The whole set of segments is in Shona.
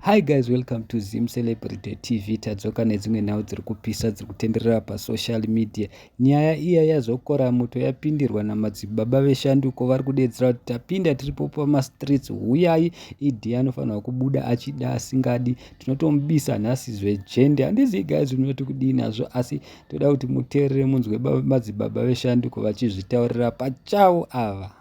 Hi guys, welcome to Zim Celebrity TV. Tadzoka nedzimwe nhau dziri kupisa dziri kutenderera pasocial media. Nyaya iya yazokora moto yapindirwa namadzibaba veshanduko vari kudedzera kuti tapinda tiripo pamastreets huyai idi anofanirwa kubuda achida asingadi tinotomubisa nhasi zvejende handizivi guys unoti kudii nazvo asi toda kuti muteerere munzwe madzibaba veshanduko vachizvitaurira pachavo ava.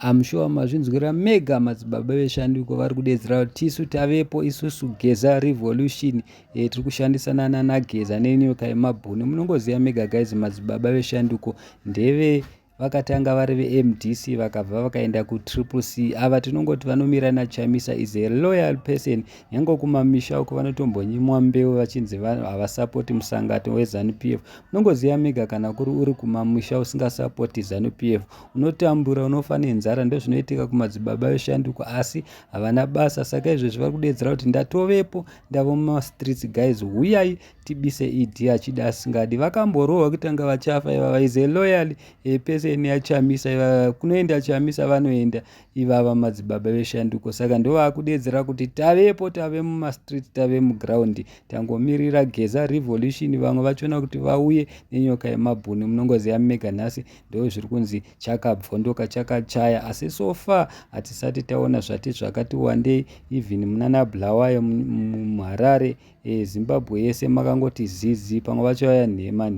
I'm sure mazvinzwira mega madzibaba veshanduko vari kudedzera kuti tisu tavepo isusu geza revolution e, tiri kushandisana nana geza nenyoka yemabhuni munongoziva mega guys madzibaba veshanduko ndeve vakatanga vari vemdc vakabva vakaenda kutriple c ava tinongoti vanomira nachamisa is a loyal person nyange kumamisha uko vanotombonyimwa mbeu vachinzi havasapoti musangato wezanup f unongoziva mega kana kuri uri kumamisha usingasapoti zanup f unotambura unofa nenzara ndozvinoitika kumadzibaba veshanduko asi havana basa saka izvezvi vari kudedzera kuti ndatovepo ndavo mumastreets guys huyai tibise ED achida asingadi vakamborohwa kuti anga vachafa ivava is a loyal a person yachamisa ivava kunoenda chamisa vanoenda ivava madzibaba veshanduko saka ndovakudeedzera kuti tavepo tave mumastreet tave muground tangomirira geza revolution vamwe vachona kuti vauye nenyoka yemabhuni munongoziva mega nhasi ndozviri kunzi chakabvondoka chakachaya asi so far hatisati taona zvati zvakati wandei even munana bulawayo muharare e, zimbabwe yese makangoti zizi pamwe vacho vaya nhema